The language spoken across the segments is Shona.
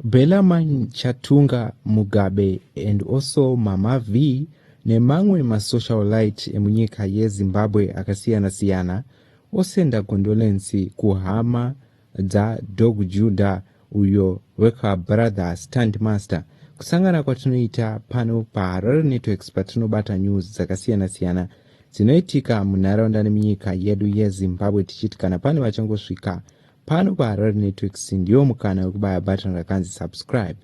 Bellarmine Chatunga Mugabe and also Mama V nemamwe masocialite emunyika yeZimbabwe akasiyana siyana osenda condolency kuhama dza Dog Judah uyo wekwa Brother Standmaster kusangana kwatinoita pano paHarare Networks patinobata news dzakasiyana siyana dzinoitika munharaunda nemunyika yedu yeZimbabwe tichiti kana pane vachangosvika pano paharare networks ndiwo mukana wekubaya button rakanzi subscribe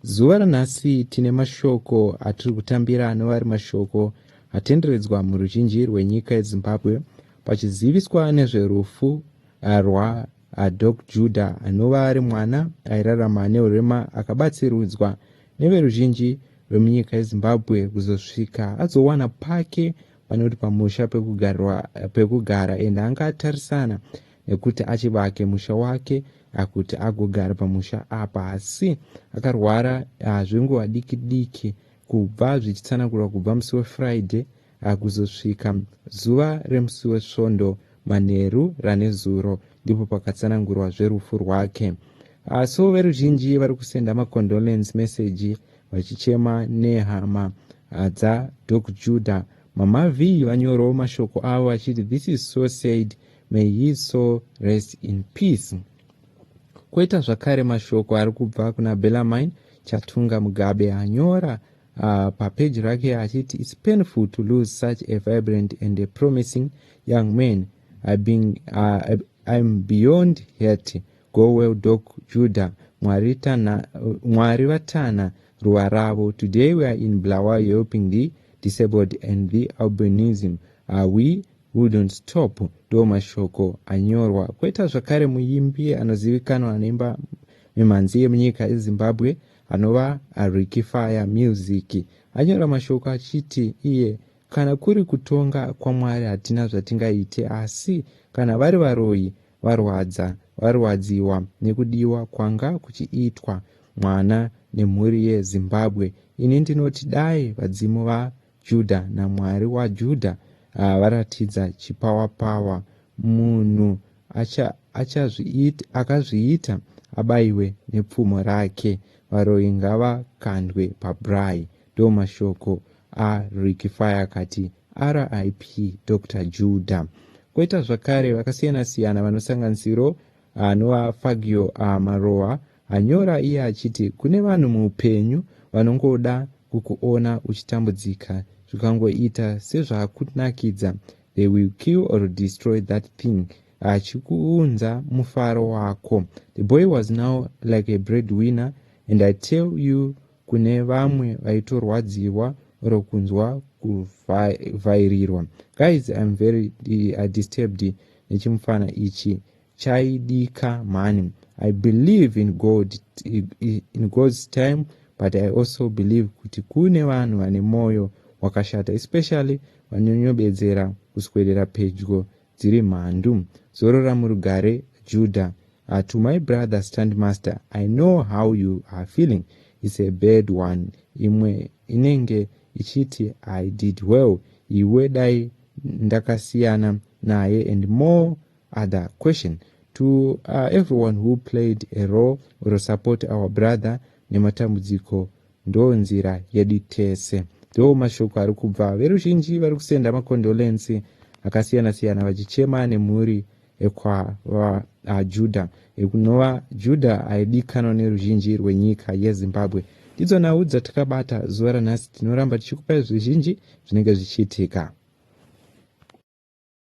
zuva ranhasi tine mashoko atiri kutambira anova ari mashoko atenderedzwa muruzhinji rwenyika yezimbabwe pachiziviswa nezverufu eh, rwa eh, dok juda anova ari mwana airarama neurema akabatsirudzwa neveruzhinji rwemunyika yezimbabwe kuzosvika azowana pake panoti pamusha pekugara ende anga atarisana nekuti achivake musha wake akuti agogara pamusha apa asi akarwara zvenguva diki diki kubva zvichitsanangurwa kubva musi wefriday kuzosvika zuva remusi wesvondo manheru ranezuro ndipo pakatsanangurwa zverufu rwake so veruzhinji vari kusenda macondolence message vachichema nehama dzadoc judah mama vee vanyorowo mashoko avo vachiti this is so said May his soul rest in peace. Koita zvakare mashoko ari kubva kuna Bellarmine Chatunga Mugabe anyora uh, papeji rake achiti its painful to lose such a vibrant and a promising young man I being, uh, I'm beyond hurt go well dok Judah mwari, tana, mwari vatana ruwa ravo today we are in Blawa helping the disabled and the albinism uh, we We don't stop ndiwo mashoko anyorwa koita zvakare muimbi anozivikanwa anoimba mimhanzi yemunyika yezimbabwe anova ariki fire music anyora mashoko achiti iye kana kuri kutonga kwamwari hatina zvatingaite asi kana vari varoyi varwadza varwadziwa nekudiwa kwanga kuchiitwa mwana nemhuri yezimbabwe ini ndinoti dai vadzimu va Judha naMwari waJudha varatidza chipawapawa munhu acha, achazviita, akazviita abaiwe nepfumo rake varoyi ngavakandwe pabraai ndo mashoko a Ricky Fire kati RIP Doctor Juda. Koita zvakare vakasiyana siyana vanosanganisiro anova Fagio Marowa Anyora iye achiti kune vanhu muupenyu vanongoda kukuona uchitambudzika zvikangoita sezvakunakidza they will kill or destroy that thing achikuunza mufaro wako. The boy was now like a breadwinner and I tell you kune vamwe vaitorwadziwa or kunzwa kuvhairirwa. Guys I'm very uh, disturbed nechimufana ichi. chaidika mhani i believe in god in god's time but i also believe kuti kune vanhu vane mwoyo wakashata especially vanyonyobedzera kuswedera pedyo dziri mhandu zorora murugare juda uh, to my brother stand master i know how you are feeling its a bad one imwe inenge ichiti i did well iwe dai ndakasiyana naye and more Other question to uh, everyone who played a role or support our brother nematambudziko ndo nzira yedu tese ndo mashoko ari kubva veruzhinji vari kusenda makondolensi akasiyana siyana vachichema nemhuri ekwajuda uh, ekunova juda aidikanwa neruzhinji rwenyika yezimbabwe ndidzo nhau dzatakabata zuva ranhasi tinoramba tichikupai zvizhinji zvinenge zvichiitika